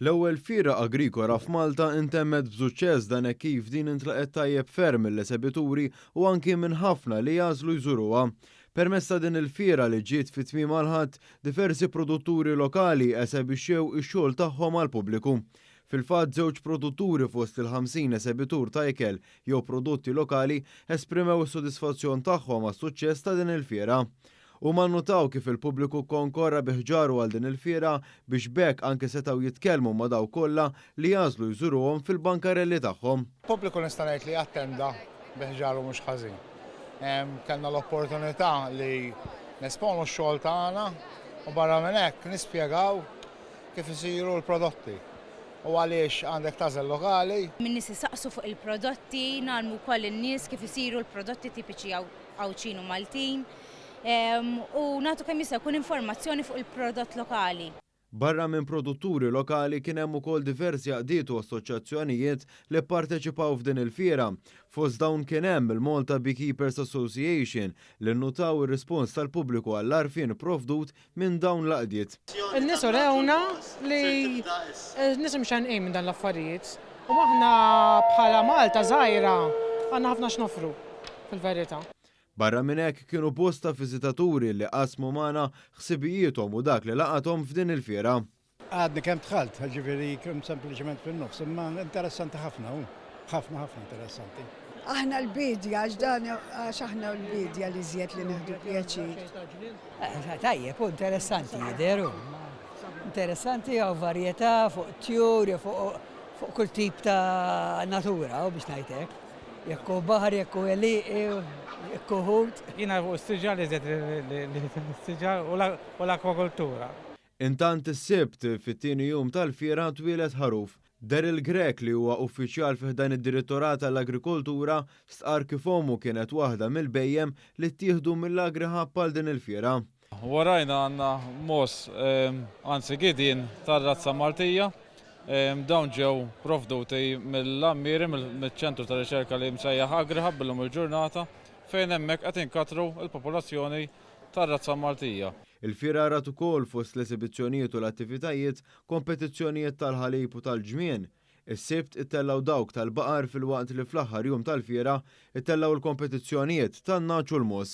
L-ewwel Fiera Agrikola f'Malta intemmet b'suċċess dan hekk kif din intlaqgħet tajjeb ferm mill-esebituri u anki minn ħafna li għażlu jżuruha. Permezz ta' din il-fiera li ġiet fi tmiemha l-Ħadd, diversi produtturi lokali esebixxew ix-xogħol tagħhom għall-pubbliku. Fil-fatt żewġ produtturi fost il-50 esebitur ta' ikel jew prodotti lokali esprimew is-sodisfazzjon tagħhom għas-suċċess ta' din il-fiera. Huma nnutaw kif il-pubbliku kkonkorra bi ħġaru għal din il-fiera biex b'hekk anke setgħu jitkellmu ma' dawk kollha li jagħżlu jżuruhom fil-bankarelli tagħhom. Pubbliku nista' ngħid li attenda bi ħġaru mhux ħażin. Kellna l-opportunità li nesponu x-xogħol tagħna u barra minn hekk nispjegaw kif isiru l-prodotti u għaliex għandek tagħżel lokali. Min-nies isaqsu fuq il-prodotti, ngħallmu wkoll lin-nies kif isiru l-prodotti tipiċi Għawdxin u Maltin, u nagħtu kemm jista' jkun informazzjoni fuq il-prodott lokali. Barra minn produtturi lokali kien hemm ukoll diversi għaqdiet u assoċjazzjonijiet li pparteċipaw f'din il-fiera. Fost dawn kien hemm il-Malta Beekeepers Association li nnutaw ir-rispons tal-pubbliku għall-għarfien ipprovdut minn dawn l-għaqdiet. In-nies urewna li n-nies imxennqin minn dan l-affarijiet u aħna bħala Malta żgħira għandna ħafna x'noffru fil-verità. Barra minn hekk kienu bosta viżitaturi li qasmu magħna ħsibijiethom u dak li laqathom f'din il-fiera. Għadni kemm dħalt, ġifieri kemm sempliċement fin-nofs, imma interessanti ħafna hu. Ħafna ħafna interessanti. Aħna l-bidja, għax dan għax aħna l-bidja li żjed li neħdu pjaċir. Eh, tajjeb, hu interessanti jidheru. Interessanti għaw varjetà fuq tjur, fuq fuq kull tip ta' natura u biex najtek. Jekku baħar, jekku eli, jekku ħut. Jina u s-sġa li zed li s-sġa u l-akwakultura. Intant is-Sibt, fit-tieni jum tal-fiera, twieled ħaruf. Daryl Grech li huwa uffiċjal fi ħdan id-Dirittorat għall-Agrikoltura stqarr kif ommu kienet waħda mill-bhejjem li ttieħdu mill-Agri Hub għal din il-fiera. Warajna għandna mogħoż, anzi gidien, tar-razza Maltija. Dawn ġew provduti mill-Għammieri, miċ-ċentru ta' riċerka li msejjaħ Agri Hub illum il-ġurnata, fejn hemmhekk qed inkatru l-popolazzjoni tar-razza Maltija. Il-fiera rat ukoll fost l-esibizzjonijiet u l-attivitajiet, kompetizzjonijiet tal-ħalib u tal-ġmien. Is-Sibt ittellgħu dawk tal-baqar filwaqt li fl-aħħar jum tal-fiera ittellgħu l-kompetizzjonijiet tan-nagħaġ u l-mogħoż.